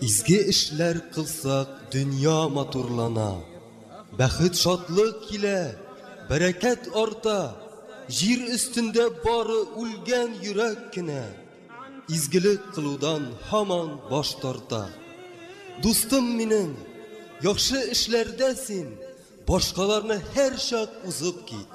Изге эшләр кылсак, дөнья матурлана, бәхет, шатлык килә, бәрәкәт арта. Җир өстендә бары үлгән йөрәк кенә изгелек кылудан һаман баш тарта. Дустым минем, яхшы эшләрдә син башкаларны һәрчак узып кит.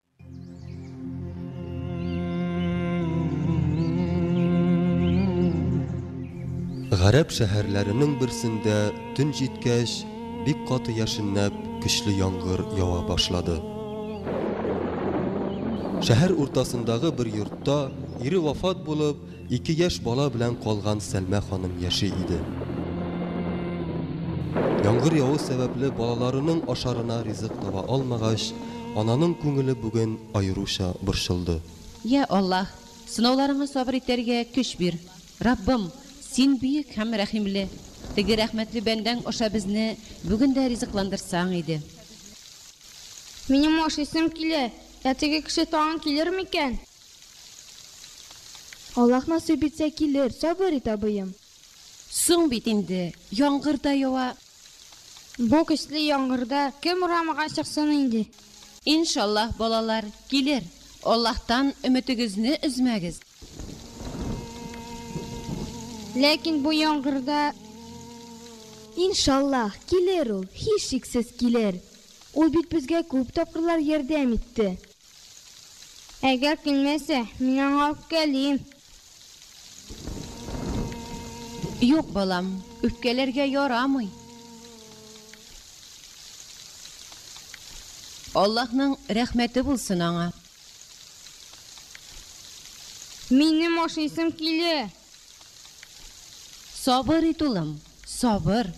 Гарәп шәһәрләренең берсендә төн җиткәч, бик каты яшеннәп, көчле яңгыр ява башлады. Шәһәр уртасындагы бер йортта ире вафат булып, Ике яшь бала белән калган Сәлмә ханым яши иде. Яңгыр яву сәбәпле балаларының ашарына ризык таба алмагач, ананың күңеле бүген аеруча борчылды. Йә, Аллаһ, сынауларыңа сабыр итәргә көч бир. Раббым, Син бөек һәм рәхимле. Теге рәхмәтле бәндәң аша безне бүген дә ризыкландырсаң иде. Минем ашыйсым килә. Ә теге кеше тагын килер микән? Аллаһ насыйп итсә, килер. Сабыр ит, абыем. Соң бит инде, яңгыр да ява. Бу көчле яңгырда кем урамга чыксын инде? Иншаллаһ, балалар, килер. Аллаһтан өметегезне өзмәгез. Ләкин бу яңгырда. Иншаллаһ, килер ул, һичшиксез килер. Ул бит безгә күп тапкырлар ярдәм итте. Әгәр килмәсә, мин аңа үпкәлим. Юк, балам, үпкәләргә ярамый. Аллаһның рәхмәте булсын аңа. Минем ашыйсым килә. Сабыр ит, улым, сабыр.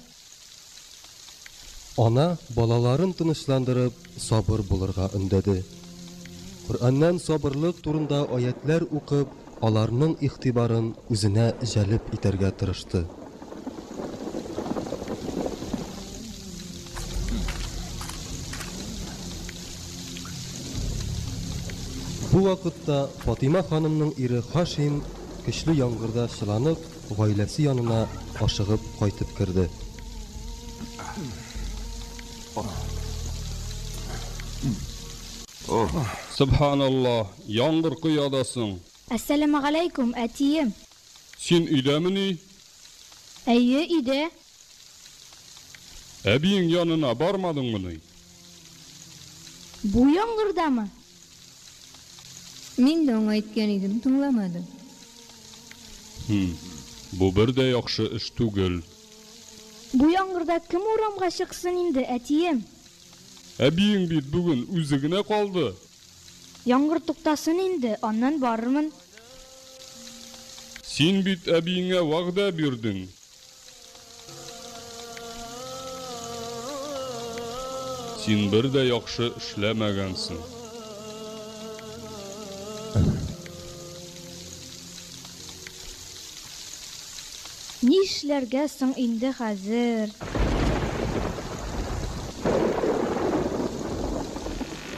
Ана балаларын тынычландырып, сабыр булырга өндәде. Коръәннән сабырлык турында аятьләр укып, аларның игътибарын үзенә җәлеп итәргә тырышты. Бу вакытта Фатыйма ханымның ире Хашим көчле яңгырда чыланып, гаиләсе янына ашыгып кайтып керде. Сөбханалла, яңгыр коя да соң. Әссәләмәгаләйкүм, әтием! Син өйдәмени? Әйе, өйдә. Әбиең янына бармадыңмыни? Бу яңгырдамы? Мин дә аңа әйткән идем, тыңламады. Хм, бу бер дә яхшы эш түгел. Бу яңгырда кем урамга чыксын инде, әтием? Әбиең бит бүген үзе генә калды. Яңгыр туктасын инде, аннан барырмын. Син бит әбиеңә вәгъдә бирдең. Син бер дә яхшы эшләмәгәнсең. Нишләргә соң инде хәзер?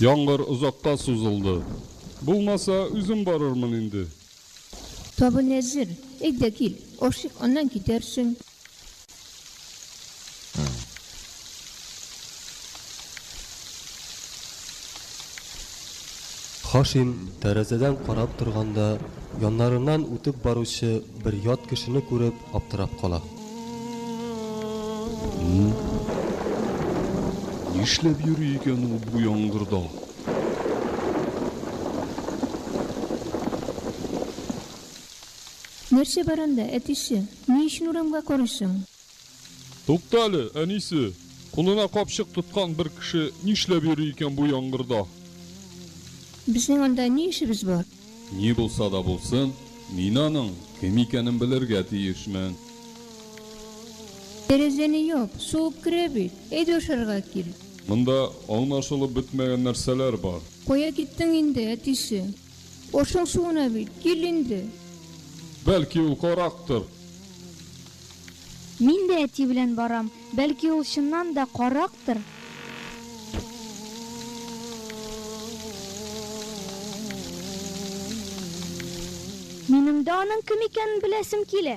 Яңгыр озакка сузылды. Булмаса, үзем барырмын инде. Табын әзер, әйдә кил, ашыйк, аннан китәрсең. Хашим, тәрәзәдән карап торганда, яннарыннан үтеп баручы бер ят кешене күреп, аптырап кала. Нишләп йөри икән ул бу яңгырда? Нәрсә бар анда, әтисе? Ни өчен урамга карыйсың? Тукта әле, әнисе! Кулына капчык тоткан бер кеше нишләп йөри икән бу яңгырда? Безнең анда ни эшебез бар? Ни булса да булсын, мин аның кем икәнен белергә тиешмен. Тәрәзәне яп, суык керә бит. Әйдә ашарга кил. Монда аңлашылып бетмәгән нәрсәләр бар. Кая киттең инде, әтисе? Ашың суына бит, кил инде. Бәлки ул карактыр. Мин дә әти белән барам, бәлки ул чыннан да карактыр. Минем дә аның кем икәнен беләсем килә.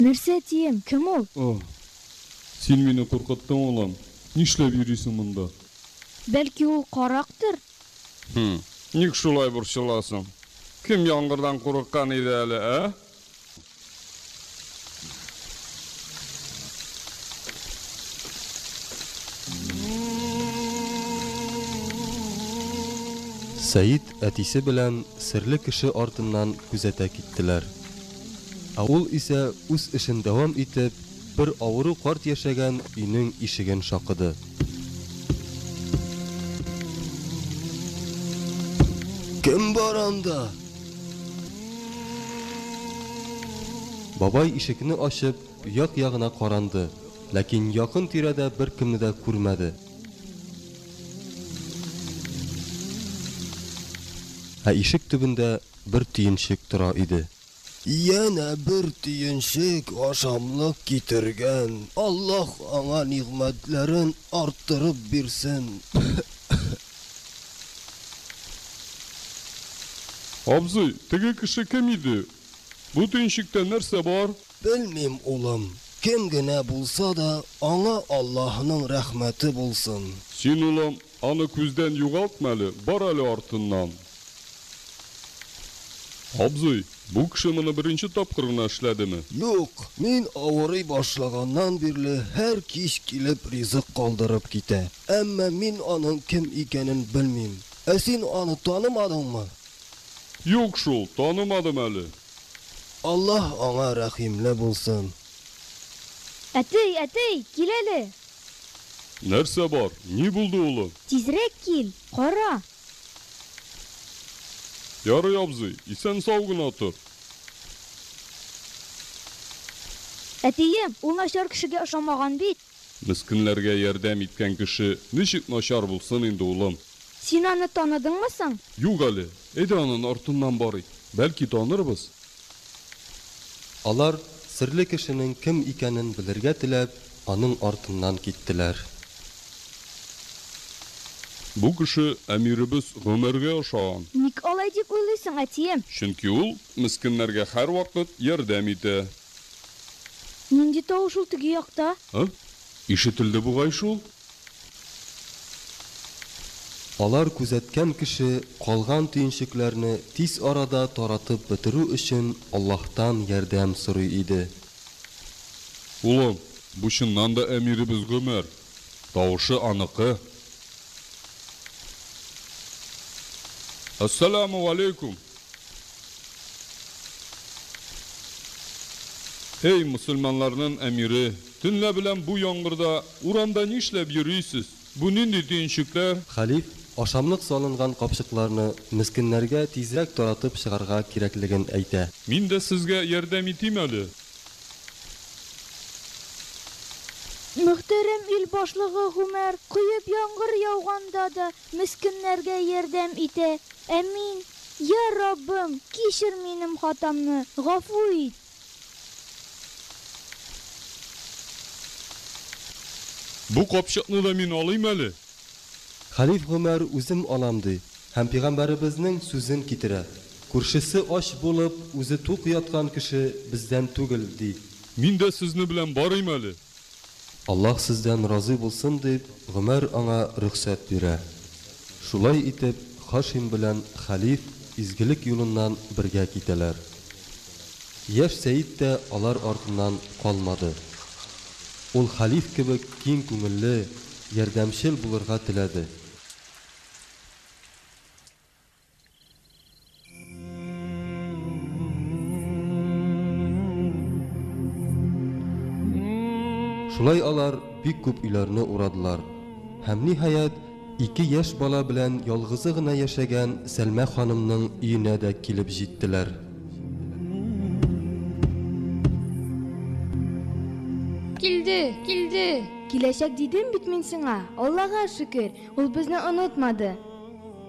Нәрсә дием? Кем ул? О, син мине куркыттың, улым. Нишләп йөрисең монда? Бәлки ул карактыр? Хм, ник шулай борчыласың? Кем яңгырдан курыккан иде әле, ә? Сәид әтисе белән серле кеше артыннан күзәтә киттеләр. Ә ул исә үз эшен дәвам итеп, Бер авыру карт яшәгән өйнең ишеген шакыды. Кем бар анда? Бабай ишекне ачып, як-ягына каранды, ләкин якын-тирәдә беркемне дә күрмәде. Ә ишек төбендә бер төенчек тора иде. Янә бер төенчек ашамлык китергән, Аллаһ аңа нигъмәтләрен арттырып бирсен. Абзый, теге кеше кем иде? Бу төенчектә нәрсә бар? Белмим, улым, кем генә булса да, аңа Аллаһның рәхмәте булсын. Син, улым, Аны күздән югалтма әле, бар әле артыннан. Абзый, бу кеше моны беренче тапкыр гына эшләдеме? Юк, мин авырый башлаганнан бирле һәр кич килеп ризык калдырып китә. Әмма мин аның кем икәнен белмим. Ә син аны танымадыңмы? Юк шул, танымадым әле. Аллаһ аңа рәхимле булсын. Әтей, әтей, кил әле! Нәрсә бар? Ни булды, улым? Тизрәк кил, кара! Ярый, абзый, исән-сау гына тор. Әтием, ул начар кешегә ошамаган бит. Мескенләргә ярдәм иткән кеше ничек начар булсын инде, улым? Син аны таныдыңмы соң? Юк әле. Әйдә анын артыннан барыйк. Бәлки танырбыз. Алар, серле кешенең кем икәнен белергә теләп, аның артыннан киттеләр. Бу кеше әмиребез Гомәргә ошаган. Ник алай дип уйлыйсың, әтием? Чөнки ул мескеннәргә һәрвакыт ярдәм итә. Нинди тавыш ул теге якта? Һы? Ишетелде бугай шул? Алар күзәткән кеше калган төенчекләрне тиз арада таратып бетерү өчен Аллаһтан ярдәм сорый иде. Улым, бу чыннан да әмиребез Гомәр. Тавышы аныкы. Әссәләмү галәйкүм! Эй, мөселманларнын әмире, төнлә белән бу яңгырда Урамда нишләп йөрисез? Бу нинди төенчекләр? Хәлиф, ашамлык салынган капчыкларны мескеннәргә тизрәк таратып чыгарга кирәклеген әйтә. Мин дә сезгә ярдәм итим әле. Мөхтәрәм ил башлыгы Гомәр коеп яңгыр яуганда да мескеннәргә ярдәм итә. Әмин. Йа Раббым, кичер минем хатамны, гафу ит! Бу капчыкны да мин алыйм әле? Хәлиф Гомәр үзем алам ди һәм пигамбәребезнең сүзен китерә, Күршесе ач булып, үзе тук яткан кеше бездән түгел, ди. Мин дә сезне белән барыйм әле. Аллаһ сездән разый булсын, дип, Гомәр аңа рөхсәт бирә. Шулай итеп, Хашим белән хәлиф изгелек юлыннан бергә китәләр. Яшь Сәет тә алар артыннан калмады. Ул хәлиф кебек киң күңелле, ярдәмчел булырга теләде. Шулай алар бик күп өйләрне урадылар. Һәм ниһаять, ике яшь бала белән ялгызы гына яшәгән Сәлмә ханымның өенә дә килеп җиттеләр. Килде, килде. Киләчәк дидем бит мин сиңа. Аллага шөкер, ул безне онытмады.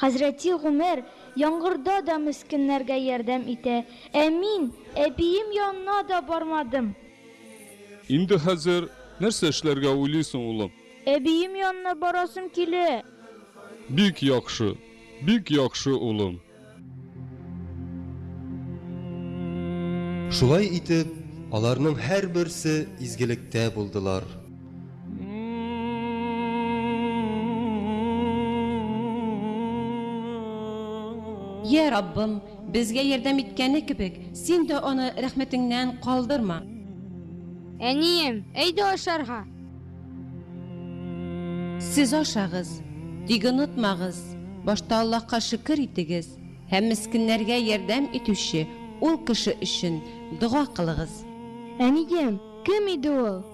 Хәзрәти Гомәр яңгырда да мескеннәргә ярдәм итә, ә мин әбием янына да бармадым. Инде хәзер нәрсә эшләргә уйлыйсың, улым? Әбием янына барасым килә. Бик яхшы, бик яхшы, улым. Шулай итеп, аларның һәрберсе изгелектә булдылар. Йә, Раббым, безгә ярдәм иткәне кебек, син дә аны рәхмәтеңнән калдырма. Әнием, әйдә ашарга. Сез ашагыз, тик онытмагыз, башта Аллаһка шөкер итегез һәм мескеннәргә ярдәм итүче ул кеше өчен дога кылыгыз. Әнием, кем иде ул?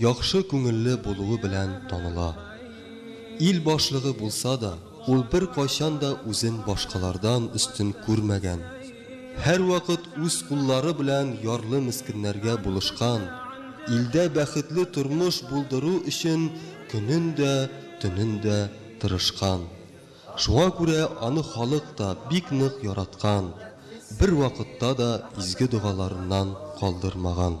Яхшы күңелле булуы белән таныла. Ил башлыгы булса да, ул беркайчан да үзен башкалардан өстен күрмәгән. Һәрвакыт үз куллары белән ярлы-мескеннәргә булышкан, илдә бәхетле тормыш булдыру өчен көнен дә, төнен дә тырышкан. Шуңа күрә аны халык та бик нык яраткан, бервакытта да изге догаларыннан калдырмаган.